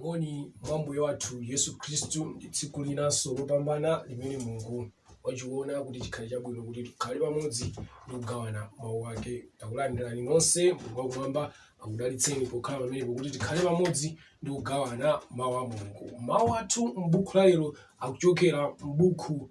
moni mwa mbuye wathu yesu khristu ndi tsiku linanso lopambana limene mulungu wachiona kuti chikhale chabwino kuti tikhale pamodzi ndi kugawana mawu ake takulandirani nonse mulungu wakumwamba akudalitseni pokhala pamenepo kuti tikhale pamodzi ndi kugawana mawu a mulungu mawu athu m'buku la lero akuchokera m'buku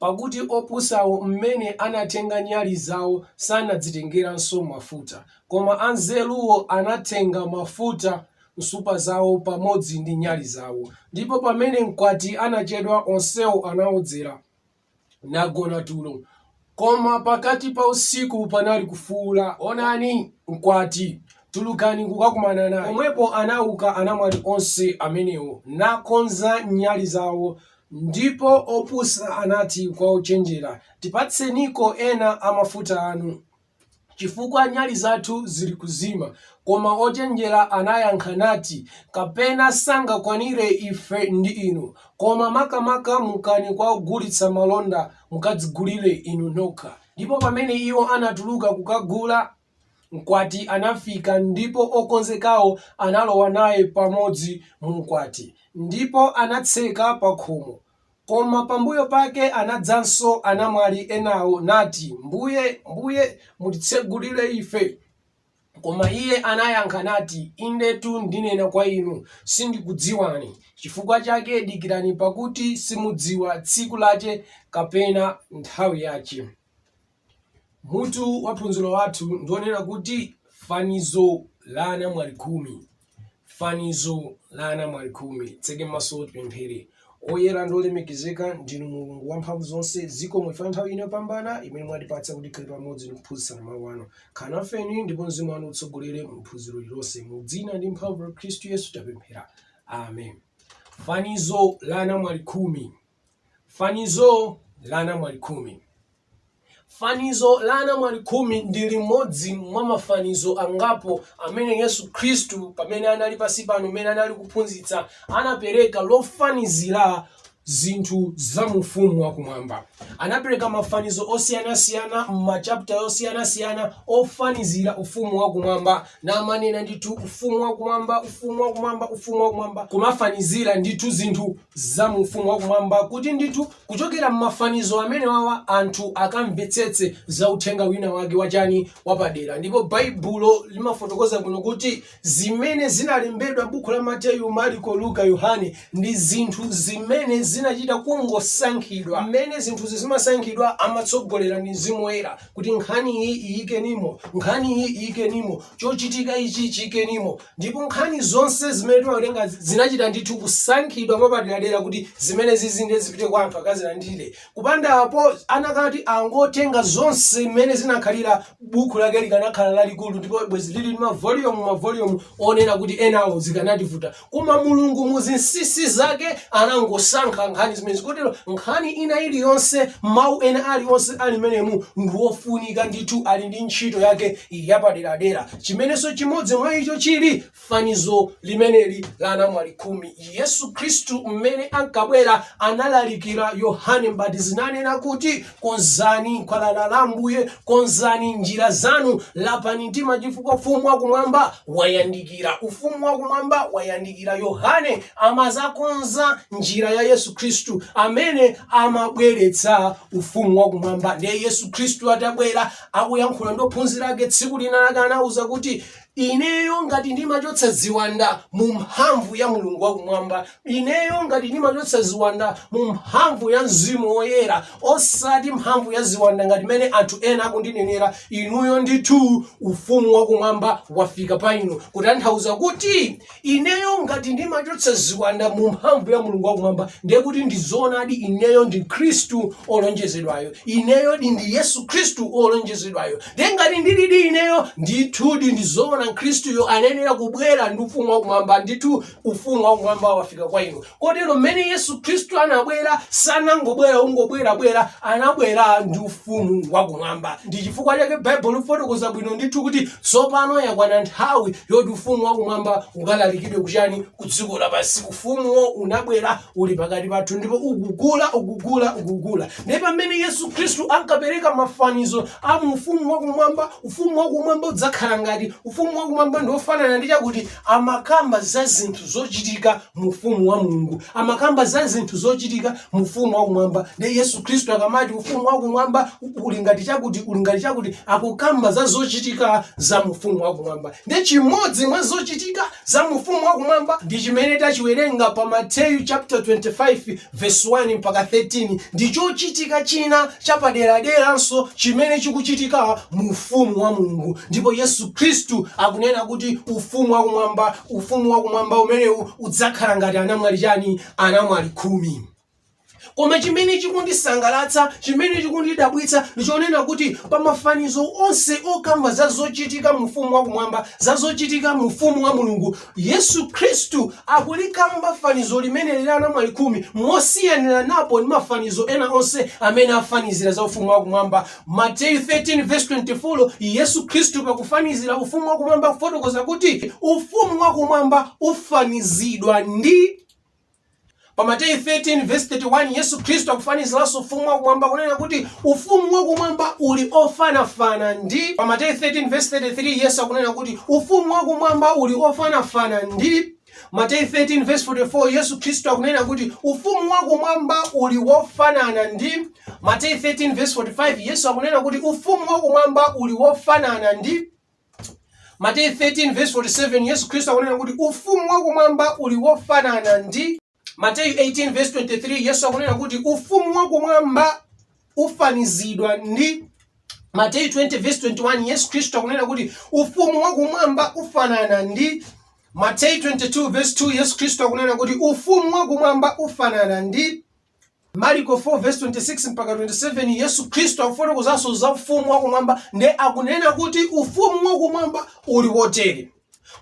Pakuti opusawo m'mene anatenga nyali zao sanadzitengeranso mafuta, koma anzeruwo anatenga mafuta m'nsupa zao pamodzi ndi nyali zao. Ndipo pamene mkwati anachedwa, onsewo anaodzera, nagona tulo. Koma pakati pa usiku panali kufuula, Onani! Mkwati! Tulukani kukakumana naye. Pomwepo anauka anamwali onse amenewo, nakonza nyali zao. Ndipo opusa anati kwa ochenjera, Tipatseniko ena a mafuta anu. chifukwa nyali zathu zili kuzima. Koma ochenjera anayankha nati, Kapena sangakwanire ife ndi inu, koma makamaka mukani kwa ogulitsa malonda, mukadzigulire inu nokha. Ndipo pamene iwo anatuluka kukagula, mkwati anafika, ndipo okonzekawo analowa naye pamodzi mu ukwati, ndipo anatseka pakhomo. Koma pambuyo pake anadzanso anamwali enawo, nati, Mbuye, Mbuye, mutitsegulire ife. Koma iye anayankha nati, Indetu ndinena kwa inu, sindikudziwani, chifukwa chake dikirani pakuti simudziwa tsiku lache kapena nthawi yache. Mutu wa phunziro lathu ndi wonena kuti Fanizo la Anamwali Khumi. Fanizo la Anamwali Khumi. Titseke maso tipemphere. Oyera ndi olemekezeka ndinu Mulungu wamphamvu zonse, zikomo chifukwa cha nthawi ino yopambana imene mwatipatsa kuti tikhale pamodzi ndi kuphunzitsana mawu anu. Khalani nafe ndipo mzimu wanu utsogolere mu phunziro lilonse. Mu dzina ndi mphamvu la Khristu Yesu tapemphera. Amen. Fanizo la Anamwali Khumi. Fanizo la anamwali khumi. Fanizo la anamwali khumi ndi limodzi mwa mafanizo angapo amene Yesu Khristu pamene anali pansi pano, pamene anali kuphunzitsa, anapereka lofanizira zinthu za mu ufumu wakumwamba. Anapereka mafanizo osiyanasiyana m'machapta osiyanasiyana ofanizira ufumu wakumwamba, namanena ndithu ufumu wakumwamba, ufumu wakumwamba, ufumu wakumwamba, kumafanizira ndithu zinthu za mu Ufumu wa Kumwamba kuti ndithu kuchokera m'mafanizo amenewawa anthu akamvetsetse za uthenga wina wake wachani wapadera. Ndipo Baibulo limafotokoza bwino kuti zimene zinalembedwa m'buku la Mateyu, Marko, Luka, Yohane ndi zinthu zimene zinachita kungosankhidwa. Mmene zinthuzi zimasankhidwa amatsogoleredwa ndi Mzimu Woyera kuti nkhani iyi iyikenimo, nkhani iyi iyikenimo, chochitika ichi chiyikenimo. Ndipo nkhani zonse zimene timawerenga zinachita ndithu kusankhidwa mwapaderadera kuti zimenezi zizinde zipite kwa anthu akazilandire. Kupanda apo, anakati angotenga zonse mmene zinakhalira, bukhu lake likanakhala lalikulu ndipo bwezi liri ndi mavoliyumu mavoliyumu onena kuti enawo zikanativuta. Koma Mulungu mu zinsisi zake anangosankha nkhani zimenezi kotero nkhani ina iliyonse, mau ena alionse ali mmenemu ndi ofunika ndithu ali ndi ntchito yake yapaderadera. chimenenso chimodzi mwa icho chili fanizo limeneli la anamwali khumi yesu khristu mmene ankabwera analalikira yohane mbatizi nanena kuti konzani khwalala la ambuye konzani njira zanu lapani mtima chifukwa ufumu wakumwamba wayandikira ufumu wakumwamba wayandikira yohane amazakonza njira ya yesu khristu amene amabweretsa ufumu wakumwamba ndiye yesu khristu atabwera akuyankhula ndi ophunzira ake tsiku lina lake anauza kuti ineyo ngati ndimachotsa ziwanda mu mphamvu ya mulungu wakumwamba ineyo ngati ndimachotsa ziwanda mu mphamvu ya mzimu woyera osati mphamvu ya ziwanda ngati mmene anthu ena akundinenera inuyo ndithu ufumu wakumwamba wafika pa inu kutanthauza kuti Ineyo ngati ndimachotsa ziwanda mu mphamvu ya Mulungu wakumwamba, ndiye kuti ndi zoonadi ineyo ndi Khristu olonjezedwayo. Ineyodi ndi Yesu Khristu olonjezedwayo. Ndiye ngati ndilidi ineyo, ndithudi ndi zoona Khristuyo anayenera kubwera ndi ufumu wakumwamba. Ndithu ufumu wakumwamba wafika kwa inu. kotero mmene yesu khristu anabwera sanangobwera kungobwerabwera anabwera ndi ufumu wakumwamba ndi chifukwa chake baibulo lifotokoza bwino ndithu kuti tsopano yakwana nthawi yoti ufumu wakumwamba ukalalikidwe kuchani ku dziko lapansi ufumuwo unabwera uli pakati pathu ndipo ukukula ukukula ukukula ndiye pamene yesu khristu ankapereka mafanizo a mu ufumu wakumwamba ufumu wakumwamba udzakhala ngati ufumu wakumwamba ndi wofanana ndi chakuti Amakamba za zinthu zocitika mu Ufumu wa Mulungu. Amakamba za zinthu zocitika mu Ufumu wakumwamba. Ndiye Yesu Khristu akamati Ufumu wakumwamba uli ngati cakuti, uli ngati cakuti, akukamba za zocitika za mu Ufumu wakumwamba. Ndiye cimodzi mwa zocitika za mu Ufumu wakumwamba ndi cimene taciwelenga pa Mateyu chaputala 25 Vesi 1 mpaka 13 ndi chochitika china chapaderaderanso chimene chikuchitika mu Ufumu wa Mulungu, ndipo Yesu Khristu akunena kuti Ufumu wa Kumwamba, Ufumu wa Kumwamba umenewu udzakhala ngati anamwali chani? Anamwali khumi. Koma chimene chikundisangalatsa, chimene chikundidabwitsa ndi chonena kuti pa mafanizo onse okamba za zochitika mu Ufumu wa Kumwamba, za zochitika mu Ufumu wa Mulungu, Yesu Kristu akulikamba fanizo limeneli la anamwali khumi mosiyaniranako ndi mafanizo ena onse amene afanizira za ufumu wakumwamba. Mateyu 13:24, Yesu Kristu pakufanizira ufumu wakumwamba akufotokoza kuti ufumu wakumwamba ufanizidwa ndi. Pa Mateyu 13 vesi 31 Yesu Khristu akufaniziranso ufumu wakumwamba kunena kuti ufumu wakumwamba uli ofanafana ndi. Pa Mateyu 13 vesi 33 Yesu akunena kuti ufumu wakumwamba uli ofanafana ndi. Mateyu 13 vesi 44 Yesu Khristu akunena kuti ufumu wakumwamba uli wofanana ndi. Mateyu 13 vesi 45 Yesu akunena kuti ufumu wakumwamba uli wofanana ndi. Mateyu 13:47 Yesu Khristu akunena kuti ufumu wakumwamba uli wofanana ndi Mateyu 18:23 Yesu akunena kuti ufumu wakumwamba ufanizidwa ndi Mateyu 20:21 Yesu Khristu akunena kuti ufumu wakumwamba ufanana ndi Mateyu 22:2 Yesu Khristu akunena kuti ufumu wakumwamba ufanana ndi Marko 4:26 mpaka 27 Yesu Khristu akufotokozanso za ufumu wakumwamba nde akunena kuti ufumu wakumwamba uli wotere.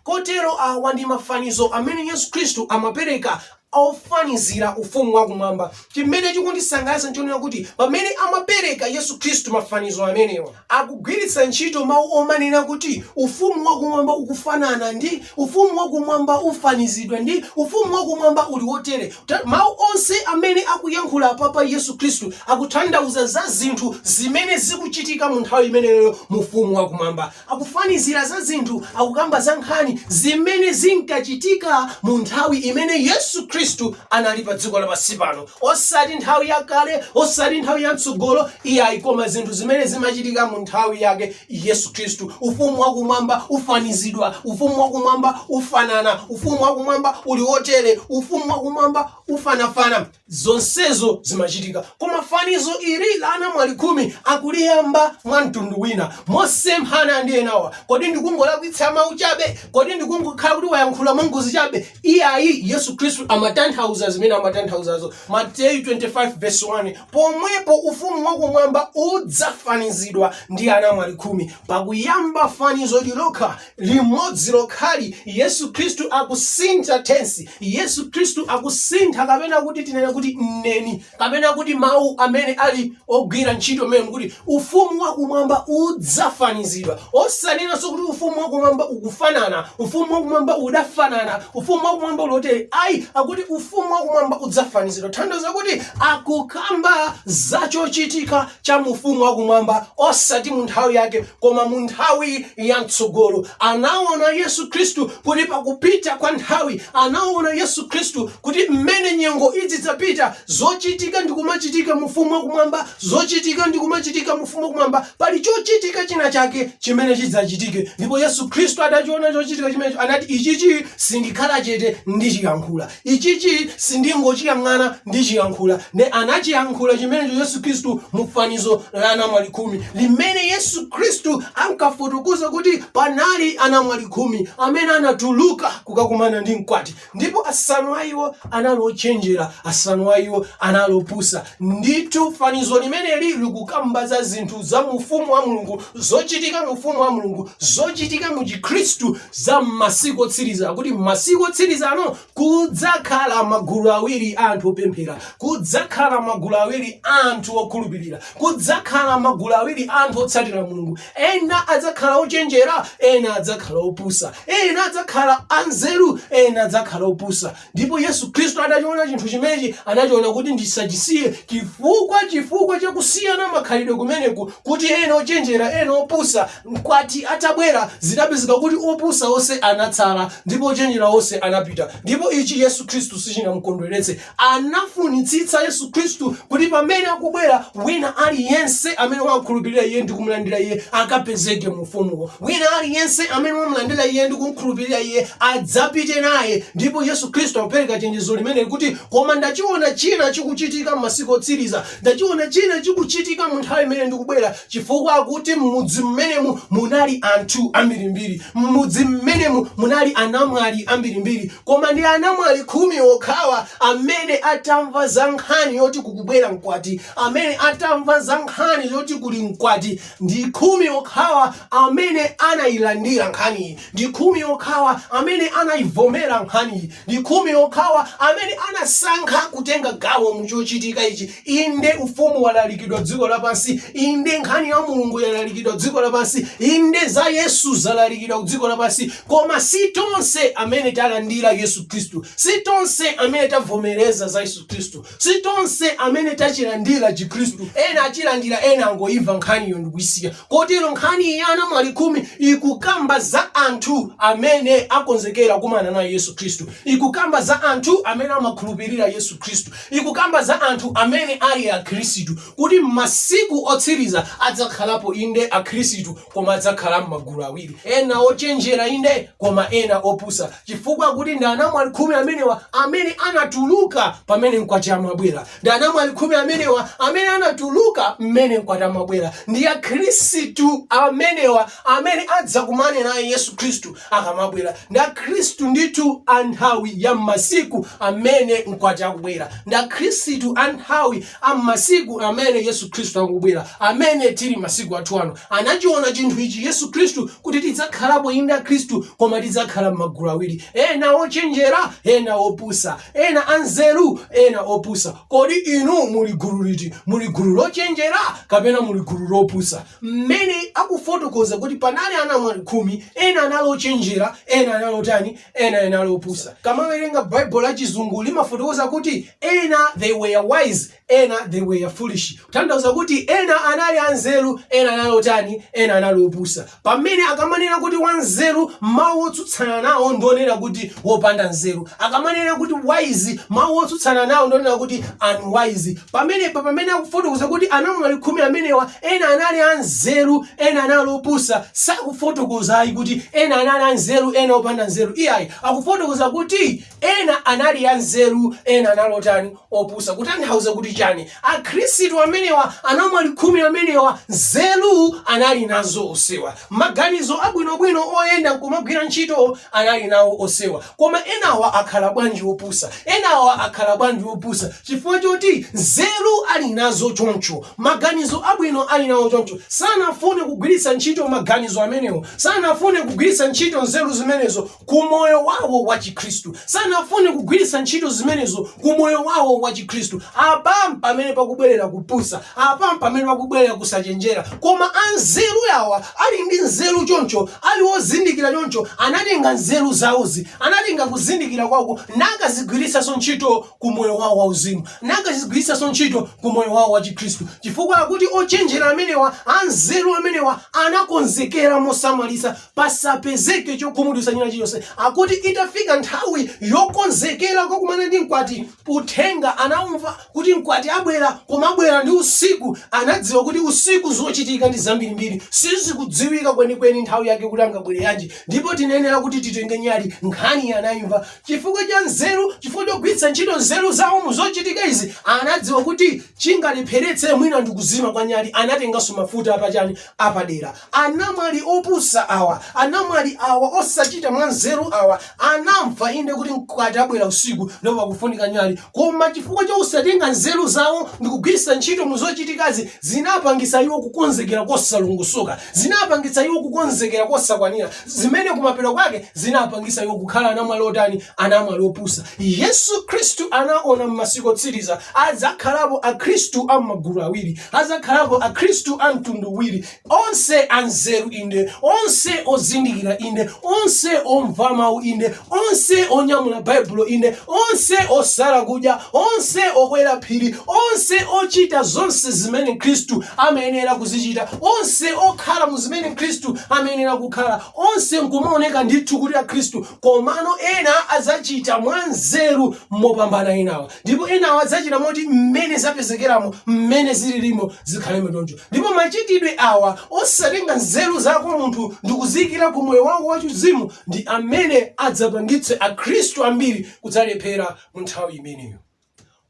Kotero awa ndi mafanizo amene Yesu Khristu amapereka ofanizira ufumu wakumwamba. Chimene chikundisangalatsa nchonena kuti pamene amapereka Yesu Khristu mafanizo amenewa akugwiritsa ntchito mau omanena kuti Ufumu wa Kumwamba ukufanana ndi, Ufumu wa Kumwamba ufanizidwa ndi, Ufumu wa Kumwamba uli wotere. Mau onse amene akuyankhula apapa Yesu Khristu akuthandauza za zinthu zimene zikuchitika mu nthawi imeneyoyo mu Ufumu wa Kumwamba. Akufanizira za zinthu, akukamba za nkhani zimene zinkachitika mu nthawi imene Yesu Khristu anali pa dziko lapansi pano. osati nthawi yakale osati nthawi yamtsogolo iyayi koma zinthu zimene zimachitika mu nthawi yake yesu khristu ufumu wakumwamba ufanizidwa ufumu wakumwamba ufanana ufumu wakumwamba uli wotere ufumu wakumwamba ufanafana zonsezo zimachitika koma fanizo ili la anamwali khumi akuliyamba mwa mtundu wina mosemphana ndi enawa kodi ndikungolakwitsa mawu chabe kodi ndikungokhala kuti wayankhula mwangozi chabe Iyayi, Yesu Khristu amatanthauza zimene amatanthauzazo. Mateyu 25 verse 1 pomwepo ufumu wakumwamba udzafanizidwa ndi anamwali khumi. Pakuyamba fanizoli lokha limodzi lokhali, Yesu Khristu akusintha tensi. Yesu Khristu akusintha kapena kuti tinene kuti mneni. Kapena kuti mawu amene ali ogwira ntchito mmene akuti ufumu wakumwamba udzafanizidwa. Osanenanso kuti ufumu wakumwamba ukufanana, ufumu wakumwamba udafanana, ufumu wakumwamba uli wotere. Ayi, akuti ufumu wakumwamba udzafanizidwa. Tanthauza kuti akukamba za chochitika cha mu ufumu wakumwamba osati mu nthawi yake koma mu nthawi ya mtsogolo anaona yesu khristu kuti pakupita kwa nthawi anaona yesu khristu kuti mmene nyengo idzidzapita zochitika ndi kumachitika mu ufumu wakumwamba zochitika ndi kumachitika mu ufumu wakumwamba pali chochitika china chake chimene chidzachitike ndipo yesu khristu atachiona chochitika chimenecho anati ichichi sindikhala chete ndichiyankhula Ichichi sindingochiyang'ana, ndichiyankhula. Nde anachiyankhula chimenecho Yesu Khristu mu fanizo la anamwali khumi, limene Yesu Khristu ankafotokoza kuti panali anamwali khumi amene anatuluka kukakumana ndi Mkwati, ndipo asanu a iwo anali ochenjera, asanu a iwo anali opusa. Ndithu, fanizo limeneli likukamba za zinthu za mu Ufumu wa Mulungu zochitika mu ufumu wa mulungu zochitika mu chikhristu za m'masiku otsiriza kuti m'masiku otsiriza ano kudzakhala magulu awiri a anthu opemphera kudzakhala magulu awiri a anthu okhulupirira kudzakhala magulu awiri a anthu otsatira mulungu ena adzakhala ochenjera ena adzakhala opusa ena adzakhala anzeru ena adzakhala opusa ndipo yesu khristu anachiona chinthu chimenechi anachiona kuti ndisachisiye chifukwa chifukwa chakusiyana makhalidwe kumeneku kuti ena ochenjera ena opusa mkwati atabwera zidapezeka kuti opusa onse anatsala ndipo ochenjera onse anapita ndipo ichi yesu khristu sichinamkondweretse anafunitsitsa yesu khristu kuti pamene akubwera wina aliyense amene wakhulupirira iye ndi kumlandira iye akapezeke mu ufumuwo wina aliyense amene wamlandira iye ndi kumkhulupirira iye adzapite naye ndipo yesu khristu akupereka chenjezo limeneli kuti koma ndachiona china chikuchitika m'masiku otsiriza ndachiona china chikuchitika mu nthawi imene ndikubwera chifukwa akuti m'mudzi mmenemu munali anthu ambirimbiri m'mudzi mmenemu munali anamwali ambirimbiri koma ndi anamwali khumi okhawa amene atamva za nkhani yoti kukubwera mkwati amene atamva za nkhani yoti kuli mkwati Ndi khumi okhawa amene anailandira nkhaniyi. Ndi khumi okhawa amene anaivomera nkhaniyi. Ndi khumi okhawa amene anasankha kutenga gawo mu chochitika ichi. Inde, Ufumu walalikidwa dziko lapansi. Inde, nkhani ya Mulungu yalalikidwa dziko lapansi. Inde, za Yesu zalalikidwa kudziko lapansi. Koma si tonse amene talandira Yesu Khristu. Si tonse amene tavomereza za Yesu Khristu. Si tonse amene tachilandira chikhristu. Ena achilandira ena angoimva nkhaniyo ndikuisiya. Kotero nkhani ya anamwali khumi ikukamba za anthu amene akonzekera kumana naye Yesu Khristu. Ikukamba za anthu amene amakhulupirira Yesu Khristu. Ikukamba za anthu amene ali akhristu kuti m'masiku otsiriza adzakhalapo inde akhristu koma adzakhala m'magulu awiri ena ochenjera inde koma ena opusa chifukwa kuti ndi anamwali khumi amenewa amene anatuluka pamene mkwati amabwera ndi anamwali khumi amenewa amene anatuluka mmene mkwati amabwera ndi akhristu amenewa amene adzakumane naye yesu khristu akamabwera ndi akhristu ndithu a nthawi ya m'masiku amene mkwati akubwera ndi akhristu a nthawi a m'masiku amene Yesu Khristu akubwera, amene tili masiku athu ano, anachiona chinthu ichi Yesu Khristu kuti tidzakhalapo inde Akhristu, koma tidzakhala m'magulu awiri, ena ochenjera, ena opusa, ena anzeru, ena opusa. Kodi inu muli gulu liti? Muli gulu lochenjera kapena muli gulu lopusa? Mmene akufotokoza kuti panali anamwali khumi, ena anali ochenjera, ena anali otani? ena anali opusa ukamawerenga bible la chizungu limafotokoza kuti ena they were wise ena they were foolish kutanthauza kuti ena anali anzeru ena anali otani ena anali opusa pamene akamanena kuti wanzeru mawu otsutsana nawo ndonena kuti wopanda nzeru akamanena kuti wise mawu otsutsana nawo ndonena kuti unwise pamenepa pamene akufotokoza kuti anamwali khumi amenewa Ena anali a nzeru, ena anali opusa, sakufotokoza ayi kuti ena anali a nzeru ena opanda nzeru iyayi, akufotokoza kuti ena anali a nzeru ena anali otani, opusa. Kutanthauza kuti chani? Akhristu amenewa, anamwali khumi amenewa, nzeru anali nazo onsewa. Maganizo abwinobwino oyenda nkumagwira ntchito anali nawo onsewa. Koma enawa akhala bwanji opusa? Enawa akhala bwanji opusa? Chifukwa choti nzeru ali nazo choncho, maganizo abwino ali nawo choncho, sanafune kugwiritsa ntchito maganizo amenewo, sanafune kugwiritsa ntchito nzeru zimenezo ku moyo wawo wa Chikhristu, sanafune kugwiritsa ntchito zimenezo ku moyo wawo wa Chikhristu. Apa mpamene pakubwerera kupusa, apa mpamene pakubwerera kusachenjera. Koma anzeru awa ali ndi nzeru choncho, ali wozindikira choncho, anatenga nzeru zawozi, anatenga kuzindikira kwawoko nakazigwiritsanso ntchito ku moyo wawo wauzimu, nakazigwiritsanso ntchito ku moyo wawo wachikhristu, chifukwa akuti ochenjera amenewa, anzeru amenewa anakonzekera mosamalitsa pasapezeke chokhumudwitsa china chilichonse. Akuti itafika nthawi yokonzekera kukakumana ndi mkwati, uthenga anaumva. kuti mkwati abwera, koma abwera ndi usiku, anadziwa kuti usiku zochitika ndi zambirimbiri, sizikudziwika kwenikweni nthawi yake kuti angabwere yanji, ndipo tinayenera kuti titenge nyali. Nkhani anaimva chifukwa cha nzeru, chifukwa chogwiritsa ntchito nzeru zawo mu zochitika izi, anadziwa kuti chingalepheretse mwina ndi kuzima kwa nyali, anatenganso mafuta apachani apadera. Anamwali opusa awa, anamwali awa, osachita mwanzeru awa, anamva inde kuti mkwati abwera usiku ndipo pakufunika nyali, koma chifukwa cha kusatenga nzeru zawo ndi kugwiritsa ntchito mu zochitikazi, zinapangitsa iwo kukonzekera kosalongosoka, zinapangitsa iwo kukonzekera kosakwanira, zimene kumapeto kwake zinapangitsa iwo kukhala anamwali otani? Anamwali opusa. Yesu Khristu anaona m'masiku otsiriza adzakhalapo Akhristu a m'magulu awiri, adzakhalapo Akhristu a mtundu uwiri, Onse anzeru, inde, onse ozindikira, inde, onse omva mawu, inde, onse onyamula Baibulo, inde, onse osala kudya, onse okwera phiri, onse ochita zonse zimene Khristu amayenera kuzichita, onse okhala mu zimene Khristu amayenera kukhala, onse nkumaoneka ndithu kuti Akhristu, komano ena adzachita mwanzeru mopambana enawa. Ndipo enawa adzachita moti mmene zapezekeramo, mmene zililimo zikhalemo choncho. Ndipo machitidwe awa osatenga nzeru zako munthu ndikuziikira ku moyo wako wachiuzimu ndi amene adzapangitse akhristu ambiri kudzalephera mu nthawi imeneyo.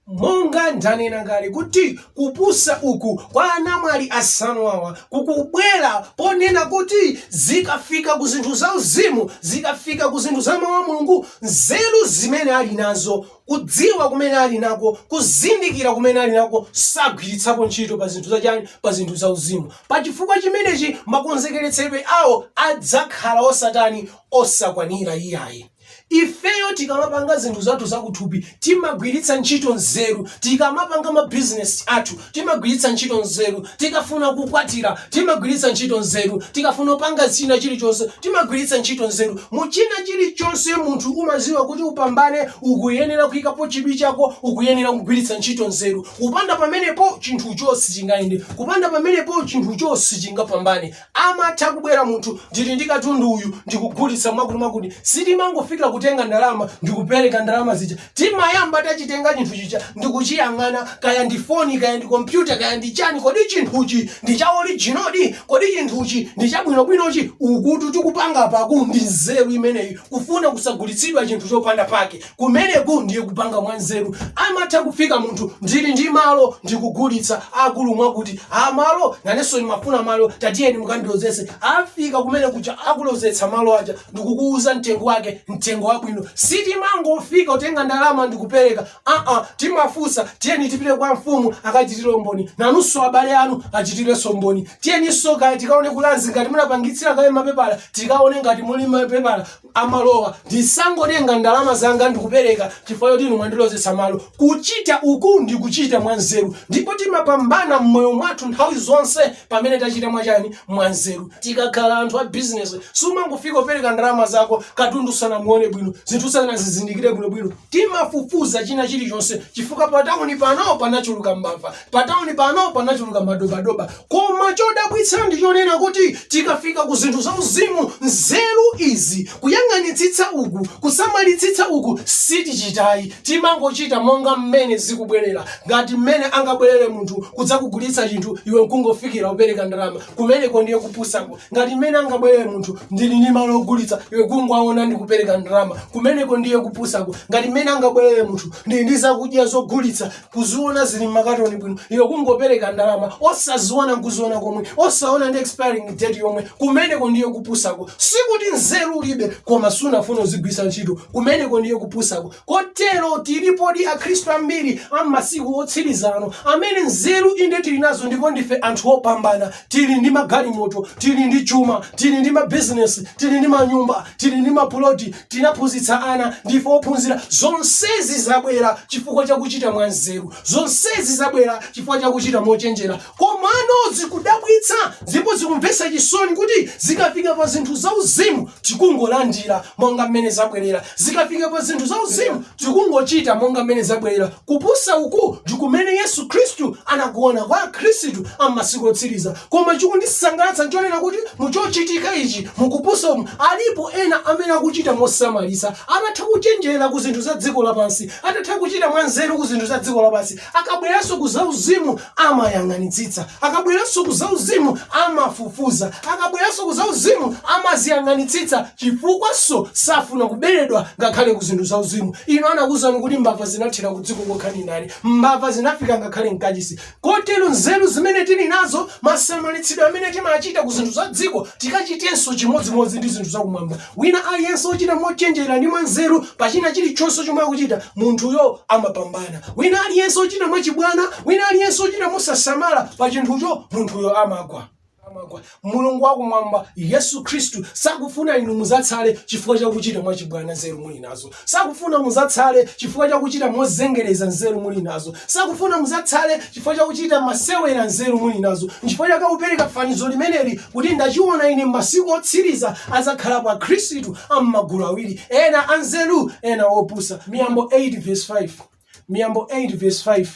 Monga ndanena kale kuti kupusa uku kwa anamwali asanu awa kukubwera ponena kuti zikafika ku zinthu za uzimu, zikafika ku zinthu za mawu a Mulungu, nzeru zimene ali nazo kudziwa kumene ali nako, kuzindikira kumene ali nako, sagwiritsapo ntchito pa zinthu zachani, pa zinthu za uzimu. Pa chifukwa chimenechi makonzekeretsedwe awo adzakhala osatani, osakwanira iyayi. Ifeyo tikamapanga zinthu zathu zakuthupi timagwiritsa ntchito nzeru, tikamapanga mabizinesi athu Timagwiritsa ntchito nzeru tikafuna kukwatira, timagwiritsa ntchito nzeru tikafuna kupanga china chilichonse, timagwiritsa ntchito nzeru mu china chilichonse. Munthu umadziwa kuti upambane ukuyenera kuyikapo chidwi chako, ukuyenera kugwiritsa ntchito nzeru. Kupanda pamenepo chinthucho sichingayende, kupanda pamenepo chinthucho sichingapambane. Amatha kubwera munthu ndili ndi katundu uyu ndikugulitsa mwakuti mwakuti. Sitimangofika kutenga ndalama ndikupereka ndalama zija. Timayamba tachitenga chinthu chija ndikuchiyang'ana kaya ndi foni kaya ndi kompyuta kaya ndi chani kodi chinthuchi ndi cha orijino di? Kodi chinthuchi ndi chabwinobwinochi? Ukutu tikupanga apaku ndi nzeru imeneyi kufuna kusagulitsidwa chinthu chopanda pake. kumeneku ndiye kupanga mwanzeru amatha kufika munthu ndili ndi malo ndikugulitsa akulu mwakuti amalo nanenso ndimafuna malo tatiyeni mukandilozese afika kumenekuja akulozetsa malo aja ndikukuuza mtengo wake mtengo wabwino sitimangofika kutenga ndalama ndikupereka aa timafunsa tiyeni tipite kwa mfumu akachitire umboni nanunso abale anu achitirenso umboni tiyeninso kaya tikaone ku Lands ngati munapangitsira kale mapepala tikaone ngati muli mapepala a malowa ndisangotenga ndalama zanga ndikupereka chifukwa choti inu mwandilozetsa malo kuchita uku ndi kuchita mwanzeru ndipo timapambana m'moyo mwathu nthawi zonse pamene tachita mwachani mwanzeru tikakhala anthu a bizinesi sumangofika kupereka ndalama zako katundu usanamuone bwino zinthu usanazizindikire bwinobwino timafufuza china chilichonse chifukwa patawuni pano panachuluka mbava Patauni pano panachuluka madobadoba. Koma chodabwitsa ndi chonena kuti tikafika ku zinthu zauzimu, nzeru izi, kuyang'anitsitsa uku, kusamalitsitsa uku sitichitayi. Timangochita monga mmene zikubwerera, ngati mmene angabwerere munthu kudzakugulitsa chinthu iwe nkungofikira kupereka ndalama. Kumeneko ndiye kupusako. Ngati mmene angabwerere munthu, ndili ndi malo ogulitsa, iwe kungowaona ndi kupereka ndalama. Kumeneko ndiye kupusako. Ngati mmene angabwerere munthu, ndili ndi zakudya zogulitsa, kuziona zili mmakatoni bwino iwe kungopereka ndalama osaziona nkuziona komwe osaona ndi expiring date yomwe kumeneko ndiye kupusako sikuti nzeru ulibe koma sunafuna uzigwiritsa ntchito kumeneko ndiye kupusako kotero tilipodi akhristu ambiri am'masiku otsirizano amene nzeru inde tili nazo ndipo ndife anthu opambana tili ndi magalimoto tili ndi chuma tili ndi mabizinesi tili ndi manyumba tili ndi mapuloti tinaphunzitsa ana ndife ophunzira zonsezi zabwera chifukwa chakuchita mwanzeru zonsezi zabwera chifukwa chakuchita mochenjera komano zikudabwitsa ndipo zikumvetsa chisoni kuti zikafika pa zinthu zauzimu tikungolandira monga mmene zabwerera zikafika pa zinthu zauzimu tikungochita monga mmene zabwerera Kupusa uku ndikumene Yesu Khristu anakuona kwa akhristu a m'masiku otsiriza. Koma chikundisangalatsa nchonena kuti muchochitika ichi, mukupusa umu, alipo ena amene akuchita mosamalitsa. Atatha kuchenjera ku zinthu za dziko lapansi, atatha kuchita mwanzeru ku zinthu za dziko lapansi, akabweranso ku zauzimu amayang'anitsitsa. Akabweranso ku zauzimu, amafufuza. Akabweranso ku zauzimu, amaziyang'anitsitsa chifukwanso safuna kuberedwa ngakhale ku zinthu zauzimu. Inu anakuuzani kuti mbava zinathera kudziko kokha ndi ndani? Mbava zinafika ngakhale m'kachisi. Kotero nzeru zimene tili nazo, masamalitsidwe amene timachita ku zinthu za dziko, tikachitenso chimodzimodzi ndi zinthu zakumwamba. Wina aliyense wochita mochenjera ndi mwanzeru pa china chilichonse chomwe akuchita, munthuyo amapambana. Wina aliyense wochita mwachibwana, wina aliyense wochita mosasamala pa chinthucho, munthuyo amagwa. Mulungu wakumwamba, Yesu Khristu, sakufuna inu muzatsale chifukwa cha kuchita mwachibwana nzeru muli nazo. Sakufuna mudzatsale chifukwa cha kuchita mozengereza nzeru muli nazo. Sakufuna mudzatsale chifukwa cha kuchita masewera nzeru muli nazo. Nchifukwa chake akupereka fanizo limeneli kuti, Ndachiwona ine m'masiku otsiriza adzakhalapo akhristu a m'magulu awiri, ena anzeru, ena opusa. Miyambo 8 vs 5. Miyambo 8 vesi 5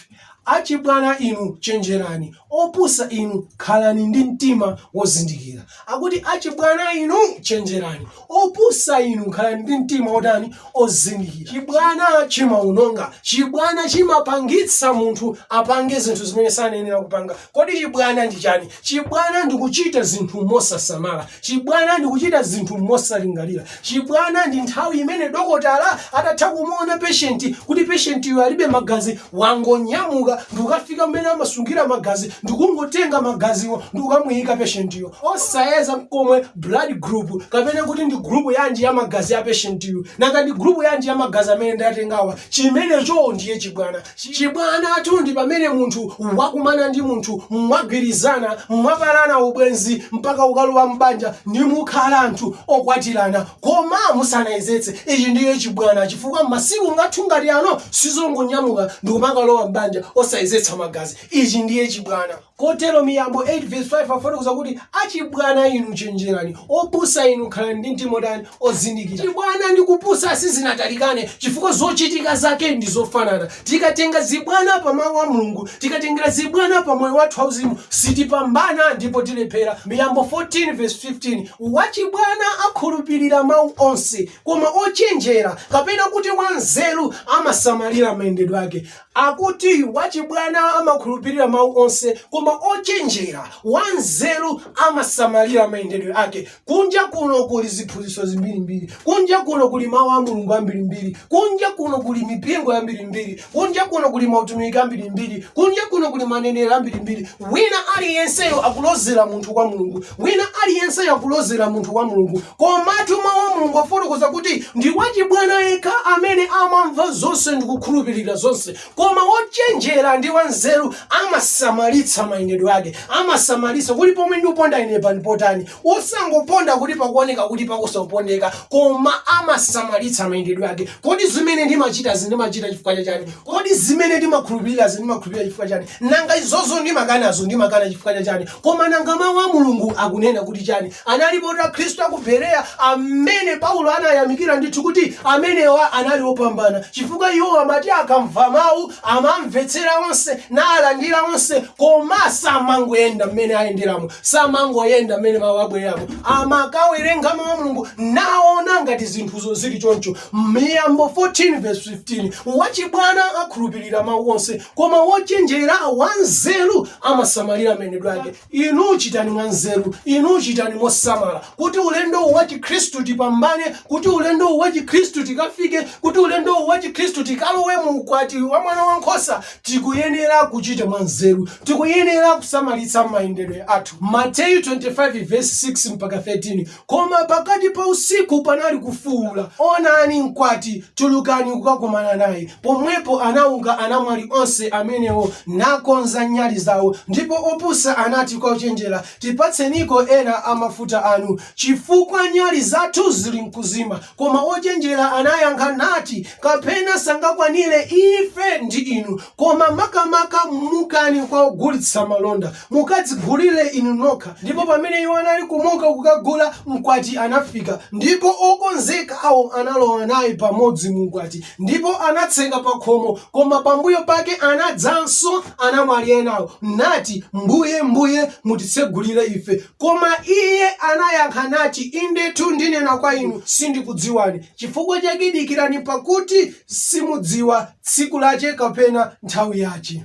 Achibwana inu, chenjerani, opusa inu, khalani ndi mtima wozindikira. Akuti, Achibwana inu, chenjerani, opusa inu, khalani ndi mtima wotani? Ozindikira. Chibwana chimaononga. Chibwana chimapangitsa munthu apange zinthu zimene sanayenera kupanga. Kodi chibwana ndi chani? Chibwana ndi kuchita zinthu mosasamala. Chibwana ndi kuchita zinthu mosalingalira. Chibwana ndi nthawi imene dokotala atatha kumuona patient kuti patient yu alibe magazi wangonyamuka ndikukafika kumene amasungira magazi ndikungotenga magaziwo ndikukamuyika patient yo osayeza nkomwe blood group kapena kuti ndi group yanji ya magazi a patient yu nanga ndi group yanji ya magazi amene ndatengawa chimenecho ndiye chibwana. Chibwanatu ndi pamene munthu wakumana ndi munthu, mwagwirizana, mwapalana ubwenzi mpaka kukalowa m'banja ndi kukhala anthu okwatirana. Koma musanayezetse, ichi ndiye chibwana chifukwa masiku ngathu ngati ano sizongonyamuka ndikumakalowa m'banja osayezetsa magazi. Ichi ndiye chibwana. Kotero, Miyambo 8 vesi 5 afotokoza kuti, Achibwana inu, chenjerani, opusa inu, khalani ndi mtima otani? Ozindikira. Chibwana ndi kupusa sizinatalikane chifukwa zochitika zake ndi zofanana. Tikatenga zibwana pa Mau a Mulungu, tikatengera zibwana pa moyo wathu wauzimu, sitipambana ndipo tilephera. Miyambo 14 vesi 15, Wachibwana akhulupirira mau onse, koma ochenjera, kapena kuti wanzeru, amasamalira mayendedwe ake. Akuti, Wachibwana amakhulupirira mawu onse, koma ochenjera, wanzeru, amasamalira mayendedwe ake. Kunja kuno kuli ziphunzitso zimbirimbiri. Kunja kuno kuli mawu a Mulungu ambirimbiri. Kunja kuno kuli mipingo yambirimbiri. Kunja kuno kuli mautumiki ambirimbiri. Kunja kuno kuli manenero ambirimbiri. Wina aliyenseyo akulozera munthu kwa Mulungu. Wina aliyenseyo akulozera munthu kwa Mulungu. Komatu Mawu a Mulungu akufotokoza kuti ndi wachibwana yekha amene amamva zonse ndi kukhulupirira zonse, koma wochenjera ndi wanzeru amasamalitsa mayendedwe ake, amasamalitsa kuti pomwe ndiponda inepa ndi potani, osangoponda kuti pakuoneka kuti pakhoza kupondeka, koma amasamalitsa mayendedwe ake. Kodi zimene ndimachitazi ndimachita chifukwa cha chani? Kodi zimene ndimakhulupirirazi ndimakhulupirira chifukwa chani? Nanga izozo ndimakanazo ndimakana chifukwa cha chani? Koma nanga Mawu a Mulungu akunena kuti chani? Analipo Akhristu a ku Bereya amene Paulo anayamikira ndithu kuti amenewa anali opambana chifukwa iwo amati akamva mawu amamvetsera onse, nalandira onse, koma samangoyenda mmene ayenderamo, samangoyenda mmene mawu abweramo. Amakawerenga Mawu a Mulungu naona ngati zinthuzo zili choncho. Miyambo 14 vesi 15 wachibwana akhulupirira mawu onse koma wochenjera wanzeru amasamalira mayendedwe ake inu chitani mwanzeru inu chitani mosamala kuti ulendowu wa chikhristu tipambane kuti ulendowu wa chikhristu tikafike kuti ulendowu wa chikhristu tikalowe mu ukwati wa mwana wa nkhosa tikuyenera kuchita mwanzeru tikuyenera kusamalitsa mayendedwe athu mateyu 25 vesi 6 mpaka 13 Koma pakati pa usiku panali kufuula, Onani, mkwati! Tulukani kukakumana naye. Pomwepo anauka anamwali onse amenewo, nakonza nyali zao. Ndipo opusa anati kwa ochenjera, Tipatseniko ena a mafuta anu, chifukwa nyali zathu zili mkuzima. Koma ochenjera anayankha nati, Kapena sangakwanire ife ndi inu, koma makamaka mukani kwa ogulitsa malonda, mukadzigulire inu nokha. Ndipo pamene iwo anali kumuka kukagula, mkwati anafika, ndipo okonzekawo analowa naye pamodzi mu ukwati, ndipo anatseka pakhomo. Koma pambuyo pake anadzanso anamwali enawo, nati, Mbuye, Mbuye, mutitsegulire ife. Koma iye anayankha nati, Indetu ndinena kwa inu, Sindikudziwani, chifukwa chake dikirani, pakuti simudziwa tsiku lache kapena nthawi yache.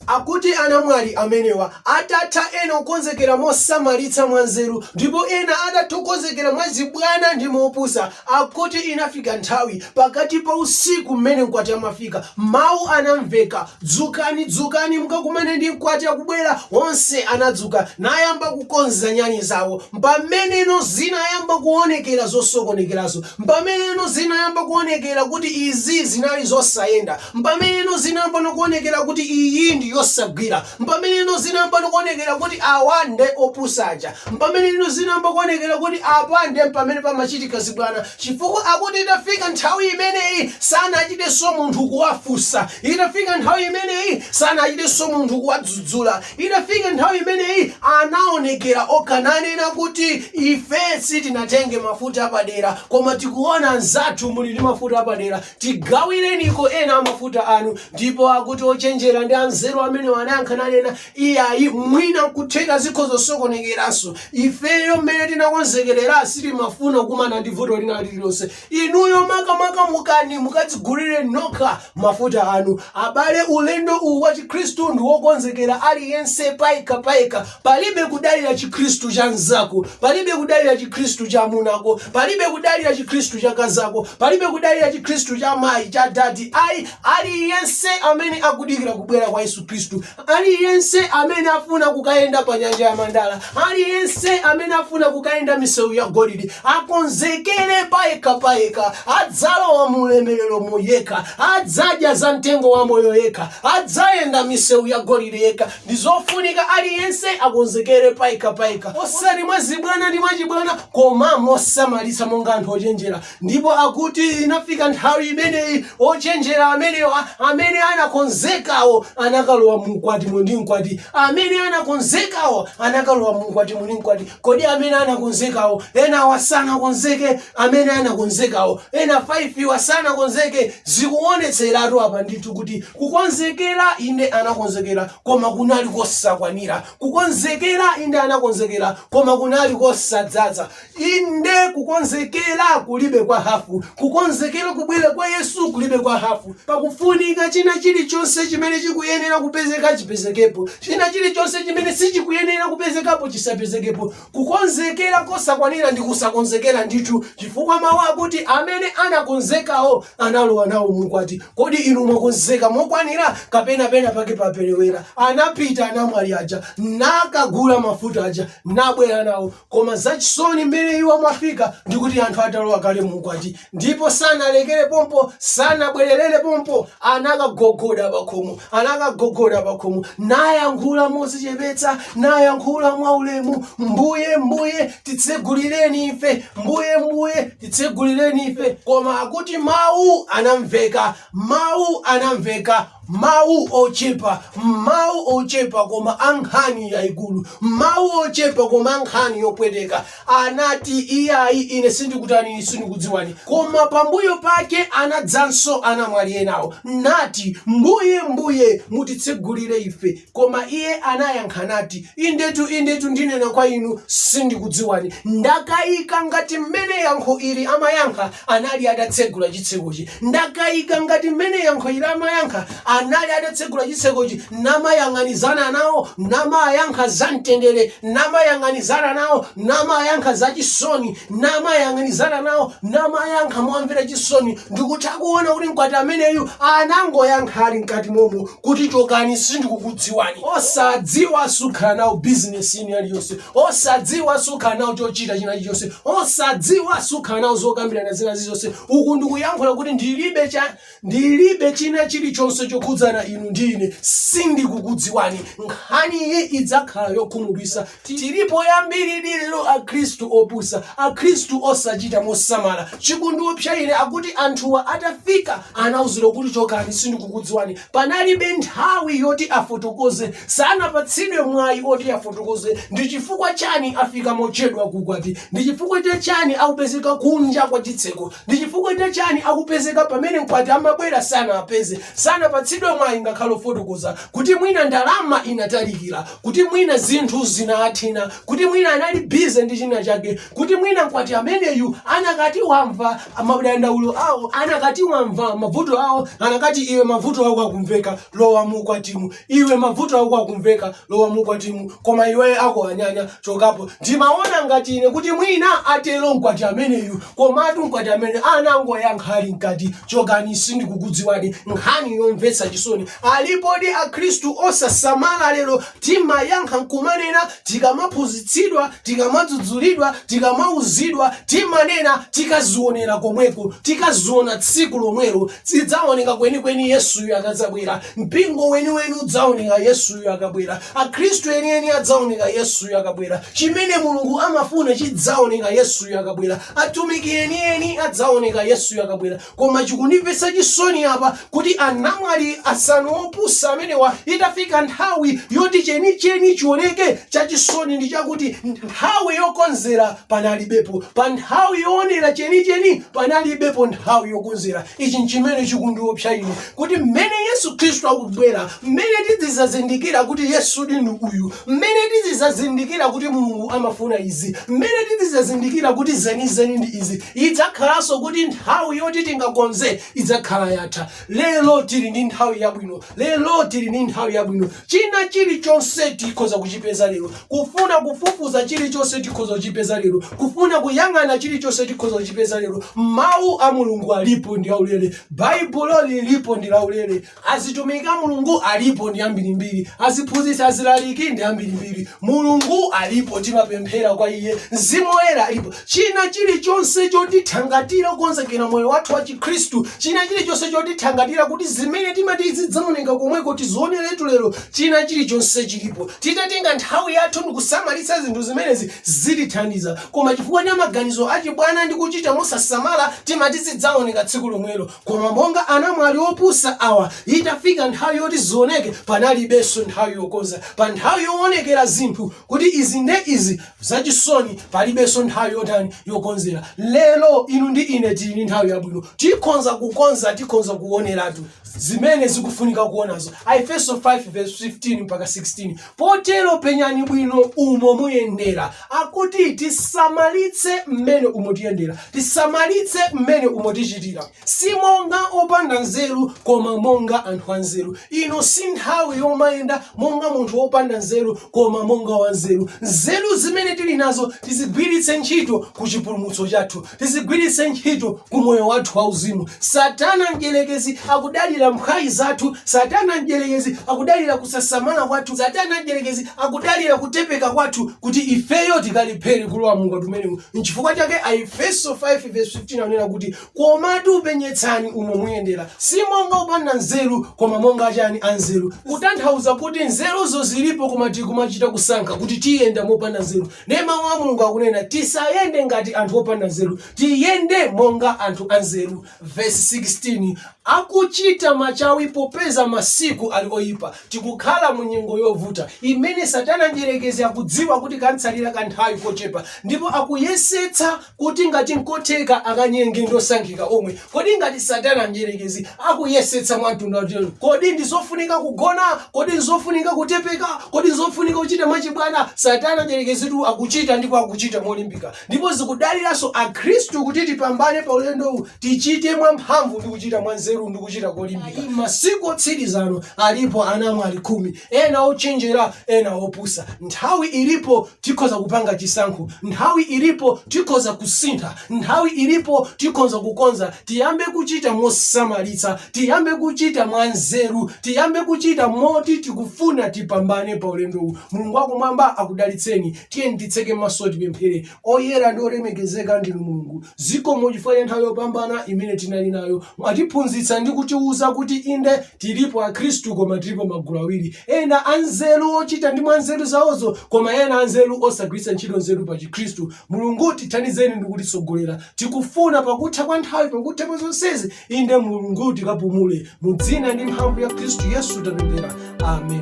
Akuti anamwali amenewa, atatha ena kukonzekera mosamalitsa mwanzeru, ndipo ena atatha kukonzekera mwachibwana ndi mopusa, Akuti inafika nthawi pakati pa usiku mmene mkwati amafika, mawu anamveka, Dzukani, dzukani mukakumane ndi mkwati akubwera. Onse anadzuka nayamba kukonza nyali zawo. Mpameneno zinayamba kuonekera zosokonekerazo. Mpameneno zinayamba kuonekera kuti izi zinali zosayenda. Mpameneno zinayamba no kuonekera kuti iyi ndi yosagwira. Mpameneno zinayamba nikuonekera kuti awa nde opusa aja. Mpameneno zinayamba kuonekera kuti apa nde pamene pamachitika zibwana chifukwa akuti itafika nthawi imeneyi sanachitenso munthu kuwafunsa. Itafika nthawi imeneyi sanachitenso munthu kuwadzudzula. Itafika nthawi imeneyi anaonekera okha nanena kuti ife sitinatenge mafuta apadera koma tikuona anzathu muli ndi mafuta apadera. tigawireniko ena a mafuta anu ndipo akuti ochenjera ndi anzeru amenewa anayankha nanena iyayi mwina nkutheka zikhozo sokonekeranso ifeyo mmene tinakonzekerera sitimafuna kukumana ndi vuto lina lililonse inuyo makamaka mukani mukadzigulire nokha mafuta anu abale ulendo uwu wa chikhristu ndi wokonzekera aliyense payekha payekha Palibe kudalira Chikhristu cha mnzako, palibe kudalira Chikhristu cha amunako, palibe kudalira Chikhristu cha akazako, palibe kudalira Chikhristu cha mayi, cha dadi. Ayi, aliyense amene akudikira kubwera kwa Yesu Khristu, aliyense amene afuna kukayenda pa nyanja ya mandala, aliyense amene afuna kukayenda misewu ya golide, akonzekere payekha payekha, adzalowa mu ulemereromo yekha, adzadya za mtengo wa moyo yekha, adzayenda misewu ya golide yekha, Ndizofunika aliyense akonzekere payekha payekha osati mwazibwana ndi mwachibwana koma mosamalitsa monga anthu ochenjera ndipo akuti inafika nthawi imeneyi ochenjera amenewa amene anakonzekawo anakalowa muukwatimo ndi mkwati amene anakonzekawo anakalowa muukwatimo ndi mkwati Kodi amene anakonzekawo enawa sanakonzeke? Amene anakonzekawo ena 5 wa sanakonzeke? Zikuonetseratu apa ndithu kuti kukonzekera inde anakonzekera koma kunali kosakwanira. Kukonzekera inde anakonzekera koma kunali kosadzaza. Inde kukonzekera kulibe kwa hafu. Kukonzekera kubwera kwa Yesu kulibe kwa hafu. Pakufunika china chilichonse chimene chikuyenera kupezeka chipezekepo. China chilichonse chimene sichikuyenera kupezekapo chisapezekepo. Kukonzekera kosakwanira ndi kusakonzekera ndithu, chifukwa mawu akuti amene anakonzekawo analowa nawo muukwati. Kodi inu mwakonzeka mokwanira, kapena penapake paperewera? Anapita anamwali aja nakagula mafuta aja nabwera nawo. Koma zachisoni mmene iwo amafika ndi kuti anthu atalowa kale mu ukwati ndipo sanalekere pompo, sanabwererere pompo, anakagogoda pakhomo, anakagogoda pakhomo, nayankhula mozichepetsa, nayankhula mwaulemu, mbuye mbuye titsegulireni ife, mbuye mbuye titsegulireni ife. Koma akuti mawu anamveka Mawu anamveka, mawu ochepa, mawu ochepa, koma a nkhani yaikulu, mawu ochepa, koma a nkhani yopweteka. Anati, Iyayi, ine sindikutani, ine sindikudziwani. Koma pambuyo pake anadzanso anamwali enawo, nati, Mbuye, Mbuye, mutitsegulire ife. Koma iye anayankha nati, Indetu, indetu, ndinena kwa inu, sindikudziwani. Ndakayika ngati mmene yankho ili amayankha anali atatsegula chitsekochi. Ndakayika ngati mmene yankho ili amayankha anali atatsegula chitsekochi, namayang'anizana nawo, namayankha za mtendere, namayang'anizana nawo, namayankha za chisoni, namayang'anizana nawo, namayankha momvera chisoni. Ndikutha kuona kuti mkwati ameneyu anangoyankha ali mkati momo, kuti chokani sindikukudziwani osadziwa sukhala nawo bizinesi ina iliyonse osadziwa sukhala nawo chochita china chilichonse osadziwa sukhala nawo zokambirana zina zilizonse uku ndikuyankhula kuti ndilibe cha ndilibe china chilichonse chokhudzana inu ndi ine sindikukudziwani nkhani iyi idzakhala yokhumudwisa Tilipo ambiridi lero akhristu opusa, akhristu osachita mosamala. Chikundiopsa ine n'chakuti anthuwa atafika anauzidwa kuti chokani sindikukudziwani. Panalibe nthawi yoti afotokoze, sanapatsidwe mwayi oti afotokoze ndi chifukwa chani afika mochedwa ku ukwati, ndi chifukwa cha chani akupezeka kunja kwa chitseko. Ndi chifukwa cha chani akupezeka pamene mkwati amabwera sanawapeze, sanapatsidwe mwayi ngakhale wofotokoza kuti mwina ndalama inatalikila, kuti mwina zinthu zinawathina, kuti mwina anali busy ndi china chake, kuti mwina mkwati ameneyu anakati wamva madandaulo awo, anakati wamva mavuto awo, anakati iwe mavuto ako akumveka, lowa mu ukwatimu. Iwe mavuto ako akumveka, lowa mukwatimu, koma iwe ako anyanya, chokapo. Ndimaona ngati ine kuti mwina, atero mkwati ameneyu. Komatu mkwati ameneyu anangoyankha ali mkati, Chokani, sindikukudziwani. Nkhani yomvetsa chisoni. Alipodi Akhristu osasamala lero, timayankha n'kumanena, tikamaphunzitsidwa tikamadzudzulidwa tikamauzidwa timanena tikazionera komweko tikaziona tsiku lomwelo zidzaoneka kwenikweni yesuyo akadzabwera mpingo weniweni udzaoneka yesuyo akabwera akhristu enieni adzaoneka yesuyo akabwera chimene mulungu amafuna chidzaoneka yesuyo akabwera atumiki enieni adzaoneka yesuyo akabwera Koma chikundimvetsa chisoni apa kuti anamwali asanu opusa amenewa itafika nthawi yoti chenicheni chioneke, chachisoni ndi chakuti nthawi yokonzera panalibepo. Pa nthawi yoonera chenicheni panalibepo nthawi yokonzera. Ichi n'chimene chikundiopsa ine kuti m'mene Yesu Khristu akubwera, m'mene tidzidzazindikira kuti Yesudi ndi uyu, m'mene tidzidzazindikira kuti Mulungu amafuna izi, m'mene tidzidzazindikira kuti zenizeni ndi izi. Idzakhalanso kuti nthawi yoti tingakonze idzakhala yatha. Lero tili ndi nthawi yabwino. Lero tili ndi nthawi yabwino. China chilichonse tikhoza kuchipeza lero. Kufuna kufufuza chilichonse tikhoza kuchipeza lero. Kufuna kuyang'ana chilichonse tikhoza kuchipeza lero. Mawu a Mulungu alipo ndi aulere. Baibulo lilipo ndi laulere. Azitumiki a Mulungu alipo ndi ambirimbiri, aziphunzitsi, azilaliki ndi ambirimbiri. Mulungu alipo, timapemphera kwa Iye, Mzimu Woyera alipo. China chilichonse chotithangatira kukonzekera moyo wathu wa Chikhristu, china chilichonse chotithangatira kuti zimene timati zidzaoneka komweko tizioneretu lero, china chilichonse chilipo. Titatenga nthawi yathu ndi kusamalitsa zinthu zimenezi zitithandiza. Koma chifukwa cha maganizo achibwana ndi kuchita mosasamala, timati zidzaoneka tsiku lomwelo. Koma monga anamwali opusa awa, itafika nthawi yoti zioneke, panalibenso nthawi yokonza. Pa nthawi yoonekera zinthu kuti izi nde izi, zachisoni, palibenso nthawi yotani, yokonzera. Lero, inu ndi ine tili ndi nthawi yabwino. Tikhonza kukonza, tikhonza kuoneratu zimene zikufunika kuonazo. Aefeso 5:15-16. Potero penyani bwino umo muyendera. Akuti tisamalitse mmene umo tiyendera, tisamalitse mmene umo tichitira, si monga opanda nzeru, koma monga anthu anzeru. Ino si nthawi yomayenda monga munthu wopanda nzeru, koma monga wanzeru. Nzeru zimene tili nazo tizigwiritse ntchito ku chipulumutso chathu. tizigwiritse ntchito ku moyo wathu wauzimu satana mdyerekezi akudalira mphwayi zathu satana mdyerekezi akudalira kusasamala kwathu satana mdyerekezi akudalira kutepeka kwathu kuti ifeyo tikalephere kulowa mu ukwati umenewu nchifukwa chake aefeso 5 verse 15 anena kuti komatu penyetsani umo muyendera si monga opanda nzeru koma monga achani anzeru kutanthauza kuti nzeruzo zilipo koma tikumachita kusankha kuti tiyenda mopanda nzeru Ndiye Mawu a Mulungu akunena, Tisayende ngati anthu opanda nzeru, tiyende monga anthu anzeru. Vesi 16, Akuchita machawi popeza masiku ali oipa. Tikukhala mu nyengo yovuta imene Satana Mdyerekezi akudziwa kuti kam'tsalira kanthawi kochepa ndipo akuyesetsa kuti ngati nkotheka akanyenge ndi osankhika omwe. Kodi ngati Satana Mdyerekezi akuyesetsa mwa mtundu wotero, kodi ndi zofunika kugona? Kodi ndi zofunika kutepeka? Kodi ndi zofunika kuchita mwachibwana? Satana Mdyerekezitu akuchita ndipo akuchita molimbika. Ndipo zikudaliranso Akhristu kuti tipambane pa ulendowu, tichite mwamphamvu ndi kuchita mwanzeru ndi kuchita kolimbika. Masiku otsiriza ano alipo anamwali khumi, ena ochenjera, ena opusa. Nthawi ilipo Tikhoza kupanga chisankho. Nthawi ilipo tikhoza kusintha. Nthawi ilipo tikhonza kukonza. Tiyambe kuchita mosamalitsa. Tiyambe kuchita mwanzeru. Tiyambe kuchita moti tikufuna tipambane pa ulendowu. Mulungu wakumwamba akudalitseni. Tiyeni titseke maso tipemphere. Oyera ndi olemekezeka ndinu Mulungu. Zikomo chifukwa cha nthawi yopambana imene tinali nayo. Mwatiphunzitsa ndi kutiuza kuti inde Tilipo akhristu koma tilipo magulu awiri, ena anzeru ochita ndi mwa nzeru zawozo koma ena anzeru osagwiritsa ntchito nzeru pa chikhristu. Mulungu tithandizeni ndi kutitsogolera. Tikufuna pakutha kwa nthawi, pakutha pa zonsezi, inde Mulungu tikapumule. Mu dzina ndi mphamvu ya Khristu Yesu tapemphera. Amen.